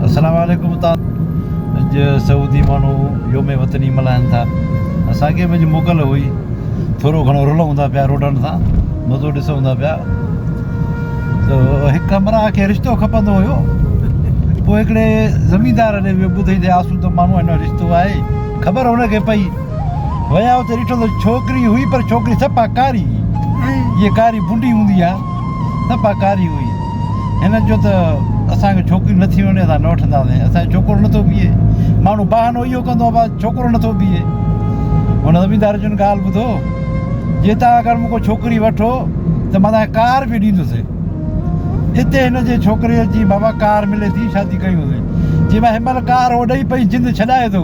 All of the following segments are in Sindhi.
السلام عليڪم اتان اڄ سعودي ماڻهو يوم وطني ملهائن ٿا اسان کي به اڄ موڪل هئي ٿورو گهڻو رلون ٿا پيا روڊن سان مزو ڏسون ٿا پيا ته هڪ همراهه کي رشتو کپندو هيو پوء هڪڙي زميندار ڏي ويو ٻڌئي ته آسودو ماڻهو آهي نه رشتو آهي خبر هن کي پئي ويا اتي ڏٺو ته ڇوڪري هئي پر ڇوڪري صفا ڪاري جيئن ڪاري بونڊي هوندي آهي نه پاڪاري هئي. هن چيو ته اسان کي ڇوڪري نٿي وڻي اسان نه وٺنداسين، اسان کي ڇوڪرو نٿو بيهي. ماڻهو بهانو اهو ڪندو آهي بس ڇوڪرو نٿو بيهي. هن زميندار چيو ڳالهه ٻڌو جي توهان اگر مون کان ڇوڪري وٺو ته مان توهان کي ڪار به ڏيندس. اتي هن جي ڇوڪري چي بابا ڪار ملي ٿي شادي ڪيون سين. چي مان هن مهل ڪار هو ڏئي پئي جند ڇڏائي ٿو.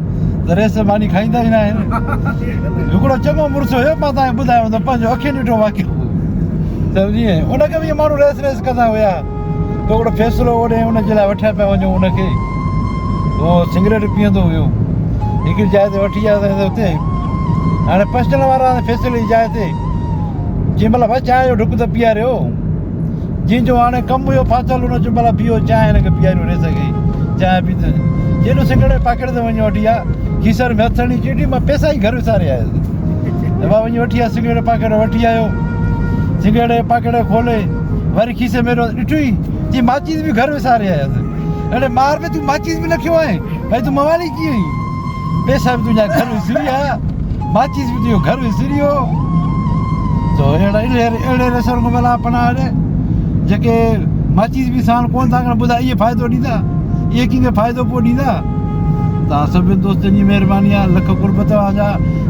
ته ريس ۾ ماني کائيندا ئي ناهن. هڪڙو چڱو مڙس هيو، مان توهان کي ٻڌايو ته پنهنجو اکين ڏٺو واقعو هو. سمجهي ۽ ان اڳ به اهي ماڻهو ريس ريس ڪندا هيا ته هڪڙو فيصلو اوڏي ان جي لاء وٺيا پيا وڃون ان کي اهو سگريٽ پيئندو هيو هڪڙي جاء تي وٺي آياسين ته اتي هاڻي پسٽل وارا فيصلي جي جاء تي جنهن مهل بس چانهه جو ڍڪ ته پيئاريو جنهن جو هاڻي ڪم هيو ڦاٿل هن چيو ڀلا بيهو چانهه هن کي پياريو ريس کي چانهه پيتي جيڏو سگڙي پاڪيٽ تي وڃي وٺي آيا کيسن ۾ هٿ هڻي چيو ڊي مان پيسا ئي گهر وساري آيس ابا وڃي وٺي آيا سگڙي پاڪيٽ وٺي آيو سگڙي پاڪيٽ کولي وري کيسي ۾ ڏٺو ئي چي ماچيس به گهر وساري آيس اڙي مار به تون ماچيس به نه کيو آهين ڀاء تون موالي ڪيئن آهين پيسا به تنهنجا گهر وسريا، ماچيس به تنهنجو گهر وسريو، تو اهڙي رسول کان ڀلا پناهه ڏي، جيڪي ماچيس به ساڻ ڪونه ٿا کڻن، ٻڌاء اهي فائدو ڏيندا؟ اهي ڪنهن کي فائدو پوء ڏيندا؟ توهان سڀني دوستن جي مهرباني آهي، لک قرب توهان جا.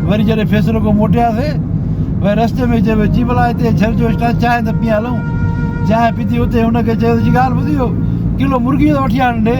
وري جڏهن فيصلو ڪيو موٽياسي، وري رستي ۾ چيو، چي ڀلا هتي ڇر جو اسٽاپ چانهه ته پيئڻ هلون. چانهه پيتي اتي هن کي چيو، چي ڳالهه ٻڌ اهو ڪلو مرغيء جو ته وٺي آڻڻ ڏي.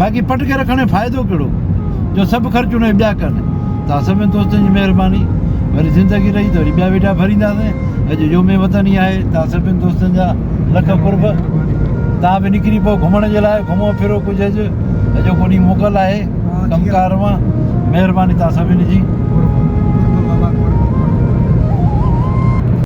باقي پٽ کي رکڻ جو فائدو ڪهڙو جو سڀ خرچ ان ٻيا ڪن تان سڀن دوستن جي مهرباني وري زندگي رهي ته وري ٻيا ويڊيا ڀرينداسين اڄ يوم وطن ئي آهي تان سڀن دوستن جا لک قرب تان به نڪري پو گهمڻ جي لاء گهمو ڦرو ڪجهه اڄ اڄو ڪو ڏينهن موڪل آهي ڪمڪار مان مهرباني تان سڀن جي